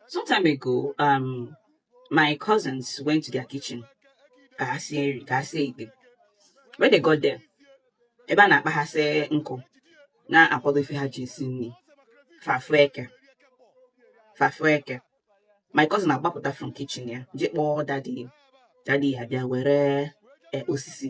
Some time ago, um, my cousins went to their kitchen. When they got there, ebe a na-akpaghasị nkụ na-akwado ife ha ji esi nri fa fụ eke fa fụ eke my cousin agbapụta from kitchen ya je kpọọ daddy daddy ya bịa were eh, osisi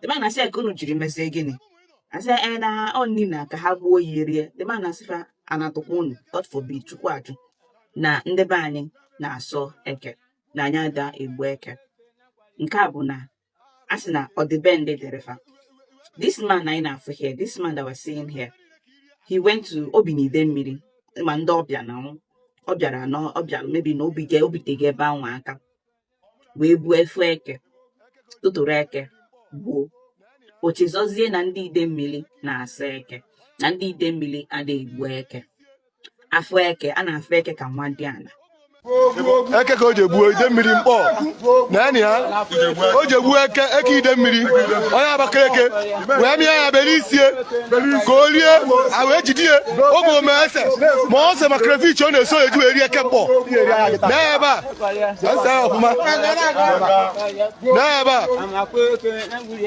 the man asị ka unu jiri mezie gịnị asị ee na ọ nni na ka ha gbuo ya erie the man asị fa anatụkwa unu God forbid Chukwu ajụ na ndị be anyị na-asọ eke na anyị ada egbu eke nke a bụ na a sị na ọdịbendị dịrị fa this man anyị na-afụ here this man that we're seeing here he went to o bi na Idemili ma ndị ọbịa na ọ bịara na ọ bịara maybe na o bi ga o bitego ebe ahụ aka wee buo ofu eke tụtụrụ eke gbuo o chezọzie na ndị Idemili na-asọ eke na ndị Idemili adịghị egbu eke a fụ eke a na-afụ eke ka nwadiala eke ka o je gbuo Idemili Nkpor naanị ya o je gbuo eke eke Idemili onye Abakaliki wee mịa ya bere isi ya ka o rie a wee jide ya oge ome ese ma ose ma crayfish ọ na-esu o ji eri eke Nkpor na ebe a n'ebe a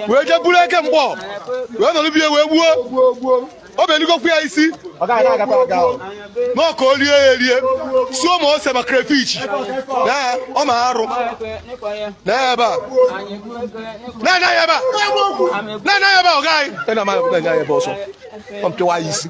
wee jee buru eke Nkpor wee nọrọ be ya wee gbuo o beligokwu ya isi na ọ ka o lie ya erie suo ma ose ma crayfish na ọ ma arụ n'ebe a na-anya ya ebe a na-anya ya ebe a ọ gaghị na-anya ya ebe ọzọ ọ mpịwa ya isi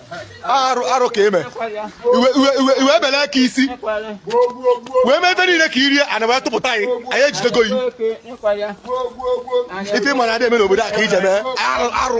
arụ arụ ka i me i wee bele eke isi wee mee ebe niile ka i rie ana wee tụpụta anyị anyị ejidego yi ife ị ma na adị eme n'obodo a ka i je mee arụ arụ